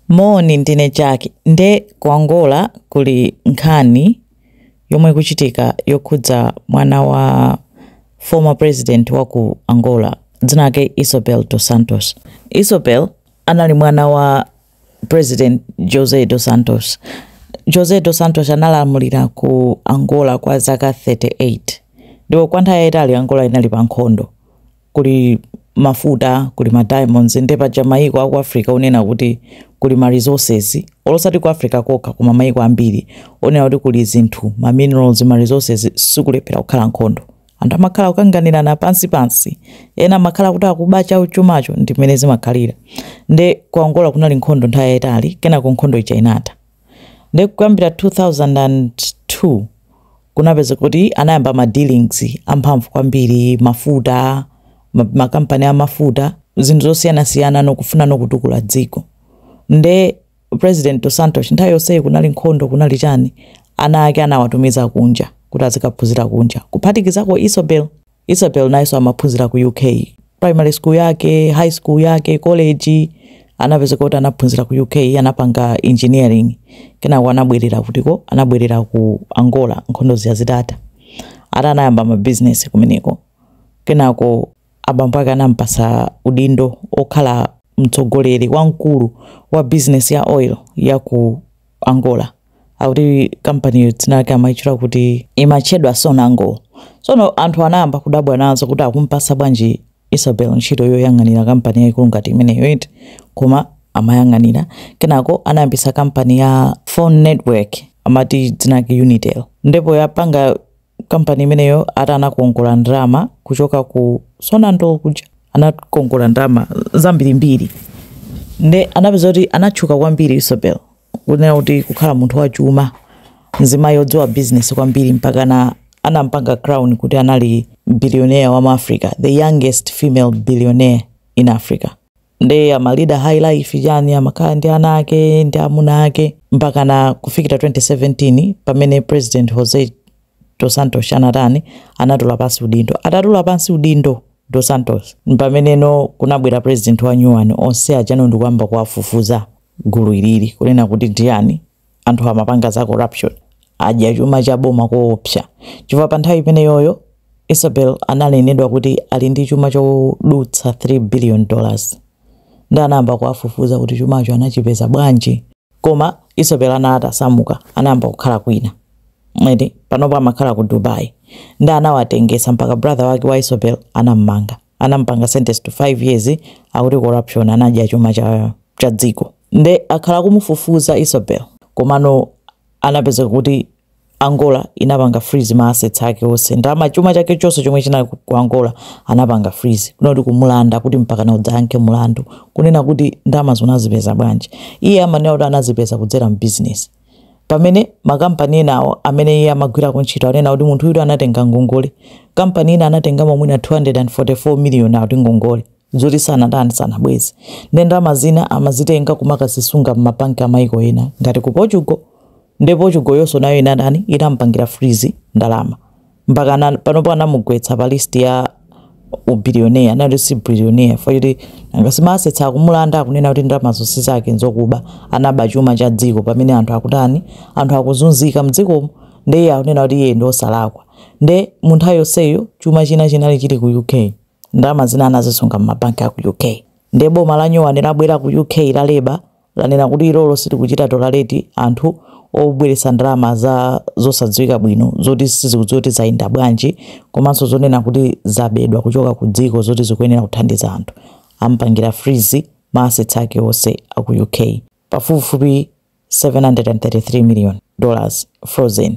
Moni ndine Jack nde ku Angola kuli nkhani yomwe ikuchitika yokhudza mwana wa former president wa ku Angola dzina lake Isabel dos Santos. Isabel anali mwana wa president José dos Santos. José dos Santos analamulira ku Angola kwa zaka 38 ndipo kwa nthawi yayitali Angola inali pa nkhondo. kuli mafuta kuli ma diamonds nde paja mayiko aku africa onena kuti kuli ma resources olo osati ku africa kokha koma mayiko ambiri onena kuti kuli zinthu ma minerals ma resources sikulephera kukhala nkhondo anthu amakhala kukanganirana pansi pansi ena amakhala kuti akuba chawo chumacho ndi mmene zimakhalira nde ku angola kunali nkhondo nthawi yayitali kenako nkhondo ija inatha Nde kuyambira 2002 kunapezeka kuti anayamba ma dealings amphamvu kwambiri, mafuta, ma company a mafuta, zinthu zosiyanasiyana nokufuna nokutukula dziko. Nde President Dos Santos nthawi yonseyi kunali nkhondo, kunali chani, ana ake anawatumiza kunja kuti azikaphunzira kunja kuphatikizako Isabel. Isabel nayenso amaphunzira ku UK. Primary school yake, high school yake, college anapezeka kuti anaphunzira ku UK, anapanga engineering. Kenako anabwerera kutiko, anabwerera ku Angola nkhondo zija zitatha. Anayamba ma business kumeneko. Kenako abambo ake anampasa udindo okhala mtsogoleri wamkulu wa business ya oil ya ku angola akuti kampaniyo dzina lake amaitchula kuti imatchedwa sonangol tsono anthu anayamba kudabwa nazo kuti akumpatsa bwanji isabel ntchito yoyang'anira kampani yaikulu ngati imeneyo eti koma amayang'anira kenako anayambitsa kampani ya phone network amati dzina lake unitel ndipo yapanga kampani imeneyo ati anakongola ndalama kuchoka ku sonangol kuja anakongola ndalama zambirimbiri nde anapezeka kuti anatchuka kwambiri isabel kunena kuti kukhala munthu wachuma mzimayi odziwa bizinesi kwambiri mpakana anampanga crown kuti anali billionaire wa mu africa the youngest female billionaire in africa Nde amalida high life chani amakhala ndi ana ake ndi amuna ake mpakana kufikira 2017 pamene president Jose dos Santos anatani anatula pansi udindo atatula pansi udindo dos Santos mpameneno kunabwera president wanyuwani onse achani ndikuyamba kuwafufuza gulu ilili kunena kuti ndiyani anthu amapanga za corruption adya chuma cha boma koopsa chifukwa pa nthawi imeneyoyo isabel ananenedwa kuti ali ndi chuma chodutsa 3 billion dollars ndi anayamba kuwafufuza kuti chumacho anachipeza bwanji koma isabel anali atasamuka anayamba kukhala kwina mwene panopo amakhala ku dubai ndi anawatengesa mpaka brother wake wa isabel anammanga anamupanga sentence to 5 years akuti corruption anadya chuma cha, cha dziko nde akhala akumufufuza Isabel komano anapeza kuti Angola inapanga freeze ma assets ake onse ndalama chuma chake chonse chomwe chinali ku ku Angola anapanga freeze kunoti kumulanda kuti mpakana udzayankhe mulandu kunena kuti ndalama zo unazipeza bwanji iye amanena kuti anazipeza kudzera mu business Pamene makampani enawo amene iye amagwirako ntchito anena kuti munthuyutu anatenga ngongole, kampani ina anatengamo mwina 244 miliyoni akuti ngongole, zoti sanatani, sanabweze. Nde ndalama zina amazitenga kumakazisunga m'mabanki a maiko ena ngati ku Portugal. Nde Portugal yonso nayo inatani, inamupangira freeze ndalama. mpaka ana- panopo anamugwetsa pa list ya ubillionaire anali si billionaire foti nanga si ma assets akumulanda akunena kuti ndalama zonse zake nzokuba anaba chuma cha dziko pamene anthu akutani anthu akuzunzika mdzikomo nde iye akunena kuti iye ndi osalakwa nde mu nthawi yonseyo chuma china chinali chili ku uk ndalama zina anazisunga m'mabanki a ku uk nde boma la nyowani labwera ku uk la Labour lanena kuti ilolo silikuchita tolerate anthu obweretsa ndalama za zosadziwika bwino zoti sizikudziwa kuti zayenda bwanji komanso zonena kuti zabedwa kuchoka ku dziko zoti zikuyenera kuthandiza anthu ampangira freeze ma assets ake onse a ku uk pafupifupi 733 million dollars frozen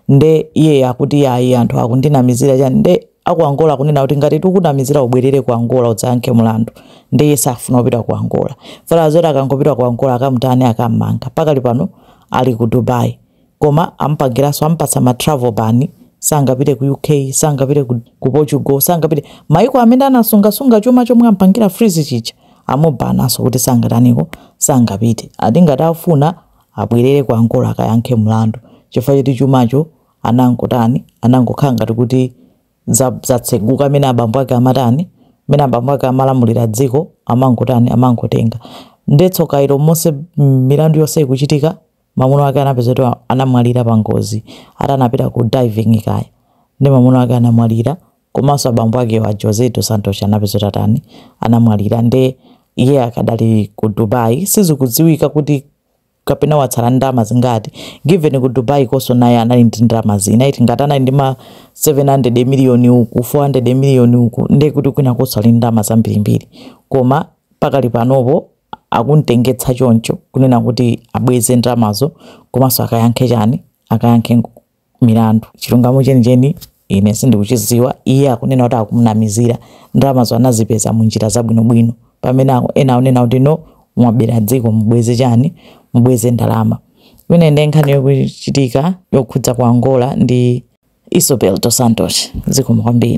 nde iye akuti ayi anthu akundinamizira chani nde aku Angola kunena kuti ngati tikunamizira ubwerere ku Angola udzayankhe mlandu nde iye safuna kupita ku Angola fear zoti akangopita ku Angola akamtani akammanga pakali pano ali ku Dubai koma amupangiranso amupatsa ma travel ban sangapite ku UK sangapite ku, ku Portugal sangapite maiko amene anasungasunga chuma chomwe ampangira freeze chicha amubananso kuti sangataniko sangapite ati ngati afuna abwerere ku Angola akayankhe mlandu chifukwa choti chumacho anangotani anangokhala ngati kuti za- zatseguka mmene abambo ake amatani mmene abambo ake amalamulira dziko amangotani amangotenga nde tsoka ilo monse mm, milandu yonse ikuchitika mamuno ake anapeza kuti anamwalira pa ngozi ati anapita ku diving kaya ndi mamuno ake anamwalira komanso abambo ake a jose dos santos anapeza kuti atani anamwalira nde iye akadali ku dubai sizikudziwika kuti kapena watsala ndi ndalama zingati given ku Dubai konso naye anali ndi ndalama zina ndiye kuti ngati anali ndi ma 700 million uku 400 million uku ndiye kuti kwina konso ali ndi ndalama zambirimbiri koma pakali panopo akumtengetsa choncho kunena kuti abweze ndalamazo komanso akayankhe chani akayankhe nku- milandu. Chilungamo chenicheni ine sindikuchidziwa. Iye akunena kuti akumunamizira. Ndalamazo anazipeza mu njira zabwinobwino. Pamene ena akunena kuti no, mwabera dziko mubweze chani? Mubweze ndalama. Imene ndi nkhani yokuchitika yokhudza ku Angola ndi Isabel Dos Santos. Zikomo kwambiri.